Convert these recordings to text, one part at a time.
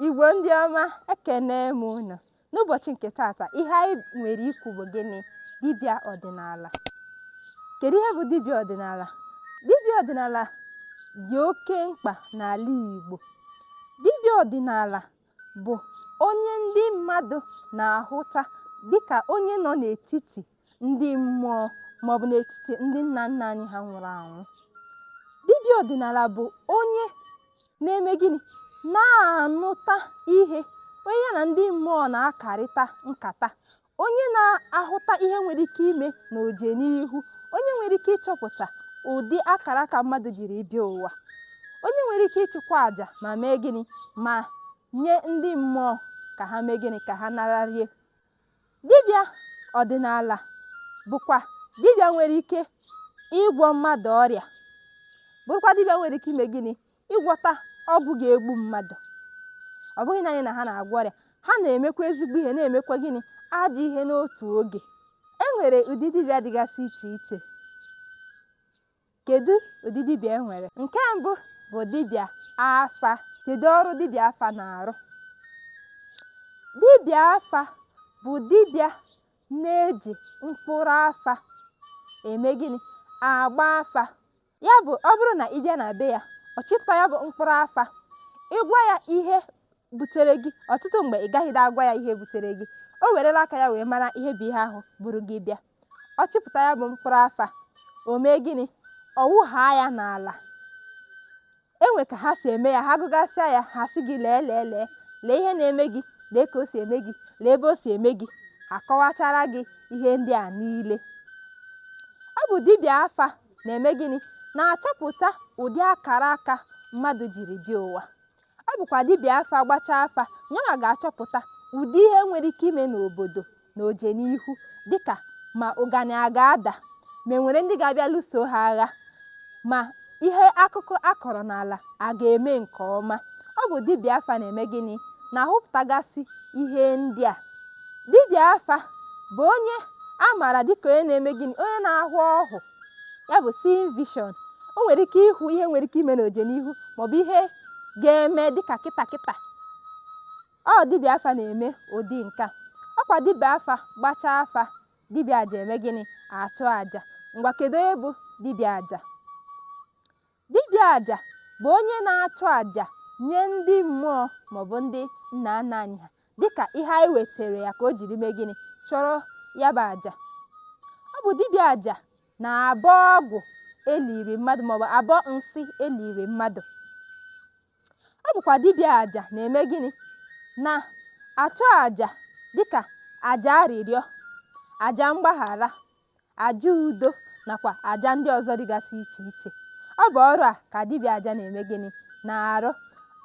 Igbo ndị ọma ekene m unu n'ụbọchị nke tata ihe anyị nwere ikwu bụ gịnị dibịa ọdịnala kedu ihe bụ dibịa ọdịnala dibịa ọdịnala dị oke mkpa n'ala Igbo dibịa ọdịnala bụ onye ndị mmadụ na-ahụta dịka onye nọ n'etiti ndị mmụọ maọbụ n'etiti ndị nna nna anyị ha nwụrụ anwụ dibịa ọdịnala bụ onye na-eme gịnị na-anụta ihe onye ya na ndị mmụọ na-akarịta nkata onye na-ahụta ihe nwere ike ime n'ojenihu onye nwere ike ịchọpụta ụdị akara aka mmadụ jiri bịa ụwa onye nwere ike ịchụkwa àjà ma mee gịnị ma nye ndị mmụọ ka ha mee gịnị ka ha nararie Dibịa ọdịnala bụkwa dibịa nwere ike ịgwọ mmadụ ọrịa, bụrụkwa dibịa nwere ike ime gịnị? Ịgwọta ọgwụ ga-egbu mmadụ. Ọ bụghị naanị na ha na-agwọ ọrịa, ha na-emekwa ezigbo ihe, na-emekwa gịnị? Ajọ ihe n'otu oge. E nwere ụdị dibịa dịgasị iche iche. Kedụ ụdị dibịa e nwere? Nke mbụ bụ dibịa afa. Kedụ ọrụ dibịa afa na-arụ? Dibịa afa bụ dibịa na-eji mkpụrụ afa eme gịnị? Agba afa. Ya bụ ọ bụrụ na ị bịa na be ya, ọ chịpụta ya bụ mkpụrụ afa. Ị gwa ya ihe butere gị, ọtụtụ mgbe ị gaghịdị agwa ya ihe butere gị. O werela aka ya wee mara ihe bụ ihe ahụ buru gị bịa. ọ chịpụta ya bụ mkpụrụ afa o mee gịnị ọ wụhaa ya n'ala e nwe ka ha si eme ya ha gụgasịa ya ha sị gị lee lee lee lee ihe na-eme gị lee ka o si eme gị lee ebe o si eme gị a kọwachara gị ihe ndị a niile ọ bụ dibịa afa na-eme gịnị na-achọpụta ụdị akara aka mmadụ jiri bịa ụwa Ọ bụkwa dibịa afa gbachaa afa, yanwa ga-achọpụta ụdị ihe nwere ike ime n'obodo n'ojenihu dịka ma ụganị a ga-ada, ma e nwere ndị ga-abịa lụso ha agha, ma ihe akụkụ a kọrọ n'ala a ga-eme nke ọma. Ọ bụ dibịa afa na-eme gịnị? Na-ahụpụtagasị ihe ndị a. Dibịa afa bụ onye a maara dịka onye na-eme gịnị? Onye na-ahụ ọhụ. ya bụ seeing vision o nwere ike ịhụ ihe nwere ike ime n'ojenihu maọbụ ihe ga-eme dịka kịta kịta ọ dibịa afa na-eme ụdị nke a ọkwa dibịa afa gbachaa afa dibịa aja eme gịnị achụ aja ngwa kedu onye bụ dibịa aja Dibịa aja bụ onye na-achụ aja nye ndị mmụọ maọbụ ndị nna nna anyị ha dịka ihe anyị weteere ya ka o jiri mee gịnị? Chụrụ ya bụ aja. Ọ bụ dibịa aja na-abọ ọgwụ e liri mmadụ maọbụ abọ nsị e liri mmadụ. Ọ bụkwa dibịa aja na-eme gịnị? Na-achụ aja dịka aja arịrịọ, aja mgbaghara, aja udo nakwa aja ndị ọzọ dịgasị iche iche ọ bụ ọrụ a ka dibịa aja na-eme gịnị na-arụ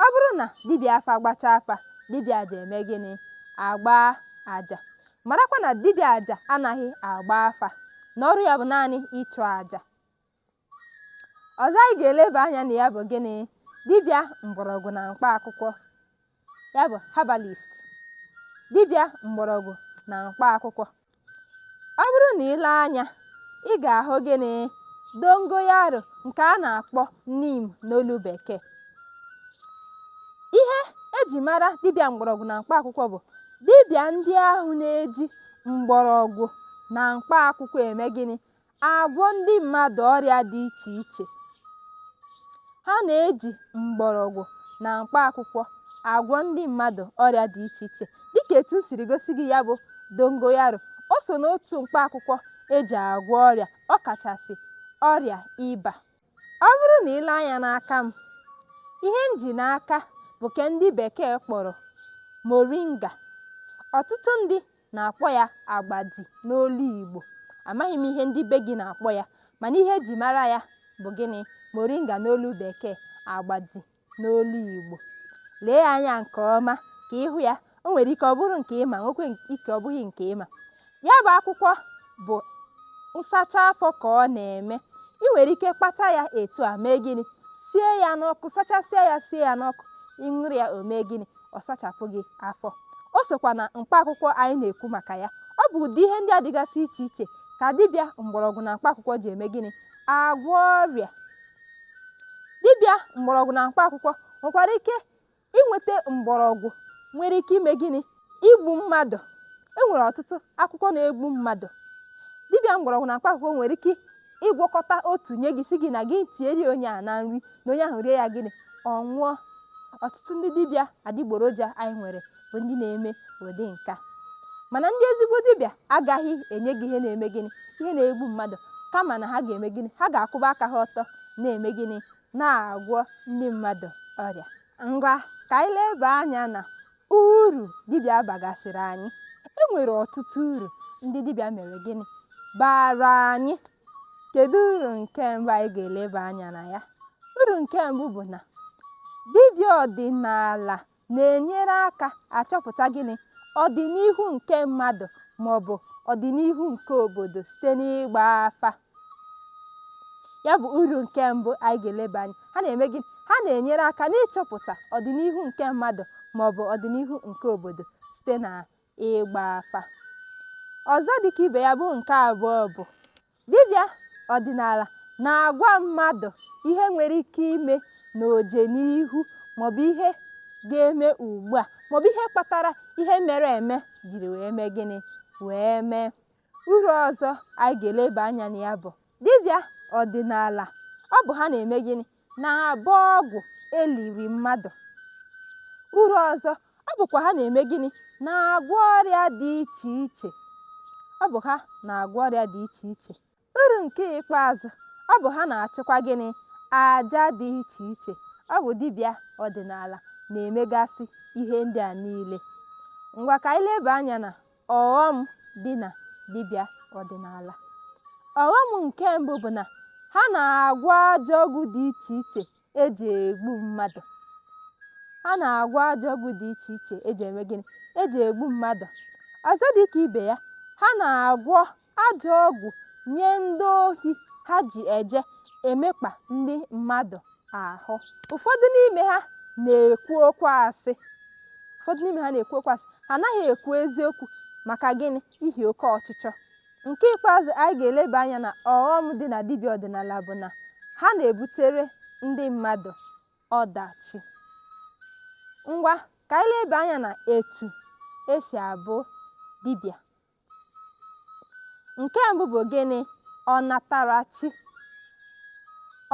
ọ bụrụ na dibịa afa gbachaa afa dibịa aja eme gịnị agba aja marakwa na dibịa aja anaghị agba afa na ọrụ ya bụ naanị ịchụ aja ọzọ anyị ga-eleba anya na ya bụ gịnị dibịa mgbọrọgwụ na mkpa akwụkwọ ya bụ herbalist dibịa mgbọrọgwụ na mkpa akwụkwọ ọ bụrụ na ị lee anya ị ga-ahụ gịnị dongoyaro nke a na-akpọ neem n'olu bekee ihe eji mara dibịa mgbọrọgwụ na mkpa akwụkwọ bụ dibịa ndị ahụ na-eji mgbọrọgwụ na mkpa akwụkwọ eme gịnị agwọ ndị mmadụ ọrịa dị iche iche ha na-eji mgbọrọgwụ na mkpa akwụkwọ agwọ ndị mmadụ ọrịa dị iche iche dịka etu m siri gosi gị ya bụ dongoyaro o so n'otu mkpa akwụkwọ eji agwọ ọrịa ọ kachasị ọrịa ịba Ọ bụrụ na i lee anya n'aka m, ihe m ji n'aka bụ ke ndị bekee kpọrọ moringa. Ọtụtụ ndị na-akpọ ya agbadi n'olu Igbo. Amaghị m ihe ndị be gị na-akpọ ya, mana ihe eji mara ya bụ gịnị? Moringa n'olu bekee, agbadi. n'olu Igbo. Lee anya nke ọma ka ị hụ ya. O nwere ike ọ bụrụ nke ị ma, nwekwe ike ọ bụghị nke ị ma. Ya bụ akwụkwọ bụ nsacha afọ ka ọ na-eme. I nwere ike kpata ya etu a mee gịnị? Sie ya n'ọkụ, sachasịa ya sie ya n'ọkụ. Ị ṅụrụ ya o mee gịnị? Ọ sachapụ gị afọ. O sokwa na mkpa akwụkwọ anyị na-ekwu maka ya. Ọ bụ ụdị ihe ndị a dịgasị iche iche ka dibịa mgbọrọgwụ na mkpa akwụkwọ ji eme gịnị? Agwọ ọrịa. dibịa mgbọrọgwụ na mkpa akwụkwọ nwekwara ike inweta mgbọrọgwụ nwere ike ime gịnị igbu mmadụ e nwere ọtụtụ akwụkwọ na-egbu mmadụ dibịa mgbọrọgwụ na mkpa akwụkwọ nwere ike ịgwọkọta otu nye gị sị gị na gị tieri onye a na nri na onye ahụ rie ya gịnị ọ nwụọ ọtụtụ ndị dibịa adịgboroja anyị nwere bụ ndị na-eme ụdị nke a mana ndị ezigbo dibịa agaghị enye gị ihe na-eme gịnị ihe na-egbu mmadụ kama na ha ga-eme gịnị ha ga-akwụba aka ha ọtọ na-eme gịnị na-agwọ ndị mmadụ ọrịa ngwa ka anyị leba anya na uru dibịa bagasịrị anyị e nwere ọtụtụ uru ndị dibịa mere gịnị bara anyị kedu uru nke mbụ anyị ga-eleba anya na ya uru nke mbụ bụ na dibịa ọdịnala na-enyere aka achọpụta gịnị? Ọdịnihu nke mmadụ ma ọ bụ ọdịnihu nke obodo site n'ịgba afa. Ya bụ uru nke mbụ anyị ga-eleba anya. Ha na-eme gịnị? Ha na-enyere aka n'ịchọpụta ọdịnihu nke mmadụ ma ọ bụ ọdịnihu nke obodo site na ịgba afa ọzọ dịka ibe ya bụ nke abụọ bụ dibịa ọdịnala na-agwa mmadụ ihe nwere ike ime n'ọdịnihu maọbụ ihe ga-eme ugbu a maọbụ ihe kpatara ihe mere eme jiri wee mee gịnị wee mee uru ọzọ anyị ga-eleba anya na ya bụ dibịa ọdịnala ọ bụ ha na-eme gịnị na-abọ ọgwụ eliri mmadụ uru ọzọ ọ bụkwa ha na-eme gịnị na-agwọ ọrịa dị iche iche ọ bụ ha na-agwọ ọrịa dị iche iche uru nke ikpeazụ ọ bụ ha na-achụkwa gịnị aja dị iche iche ọ bụ dibịa ọdịnala na-emegasị ihe ndị a niile ngwa ka anyị leba anya na Ọghọm dị na dibịa ọdịnala. Ọghọm nke mbụ bụ na ha na-agwọ ajọ ọgwụ dị iche iche eji egbu mmadụ. Ha na-agwọ ajọ ọgwụ dị iche iche eji eme gịnị? Eji egbu mmadụ. Ọzọ dị ka ibe ya, ha na-agwọ Ajọ ọgwụ nye ndị ohi ha ji eje emekpa ndị mmadụ ahụ. Ụfọdụ n'ime ha na-ekwu okwu asị. Ụfọdụ n'ime ha na-ekwu okwu asị. Ha anaghị ekwu eziokwu. Maka gịnị? Ihi oke ọchịchọ. Nke ikpeazụ anyị ga-eleba anya na ọghọm dị na dibịa ọdịnala bụ na ha na-ebutere ndị mmadụ ọdachi. Ngwa ka anyị leba anya na etu e si abụ dibịa Nke mbụ bụ gịnị? Ọnatarachi.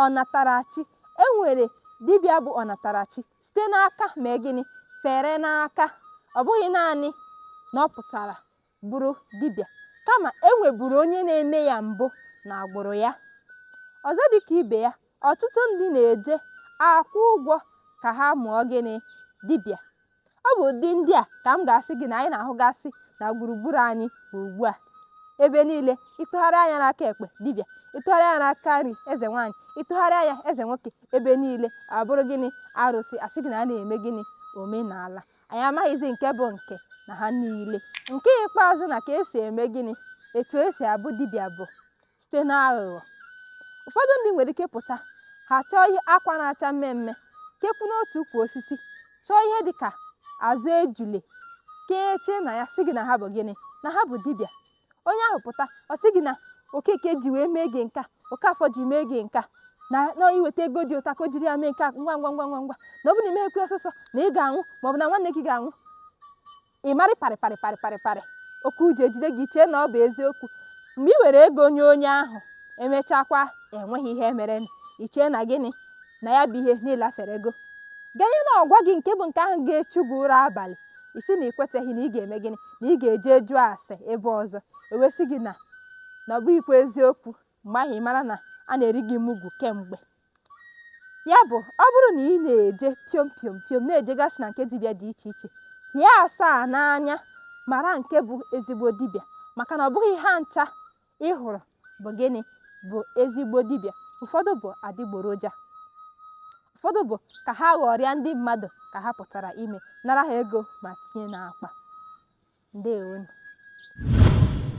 Ọnatarachi. E nwere dibịa bụ ọnatarachi site n'aka mee gịnị? Fere n'aka. Ọ bụghị naanị na ọ pụtara bụrụ dibịa kama e nweburu onye na-eme ya mbụ na agbụrụ ya. Ọzọ dị ka ibe ya, ọtụtụ ndị na-eje akwụ ụgwọ ka ha mụọ gịnị? Dibịa. Ọ bụ ụdị ndị a ka m ga-asị gị na anyị na-ahụgasị na gburugburu anyị ugbu a. Ebe niile, ị tụgharịa anya n'aka ekpe, dibịa, ị tụgharịa anya n'aka nri, eze nwaanyị, ị tụgharịa anya, eze nwoke, ebe niile abụrụ gịnị arụsị, a sị gị na a na-eme gịnị omenala. Anyị amaghịzi nke bụ nke na ha niile. Nke ikpeazụ na ka e si eme gịnị etu e si abụ dibịa bụ site n'aghụghọ ụfọdụ ndị nwere ike pụta ha chọọ ihe akwa na-acha mmee mmee kekwu n'otu ukwu osisi chọọ ihe dị ka azụ ejule kechie na ya sị gị na ha bụ gịnị na ha bụ dibịa onye ahụ pụta ọ sị gị na okeke ji wee mee gị nka okafọ ji mee gị nka na na i weta ego dị otu a ka o jiri ya mee nke a ngwa ngwa ngwa ngwa ngwa na ọ bụ na i meghịkwa ya ọsọsọ na ị ga-anwụ maọbụ na nwanne gị ga-anwụ Ị marị parị parị parị parị parị oke ụjọ ejide gị chee na ọ bụ eziokwu mgbe i were ego nye onye ahụ e mechakwa e nweghị ihe mere i chee na gịnị na ya bụ ihe na ị laferego ganye na ọ gwa gị nke bụ nke ahụ ga-echu gị ụra abalị ị sị na i kweteghị na ị ga-eme gịnị na ị ga-eje jụọ ase ebe ọzọ e wee sị gị na na ọ bụghịkwa eziokwu mgbe ahụ ị mara na a na-eri gị mugwu kemgbe ya bụ ọ bụrụ na ị na-eje piom piom piom na-ejegasị na nke dibịa dị iche iche hie asaa n'anya mara nke bụ ezigbo dibịa maka na ọ bụghị ha ncha ị hụrụ bụ gịnị bụ ezigbo dibịa ụfọdụ bụ adịgboroja ụfọdụ bụ ka ha ghọrịa ndị mmadụ ka ha pụtara ime nara ha ego ma tinye n'akpa ndewonụ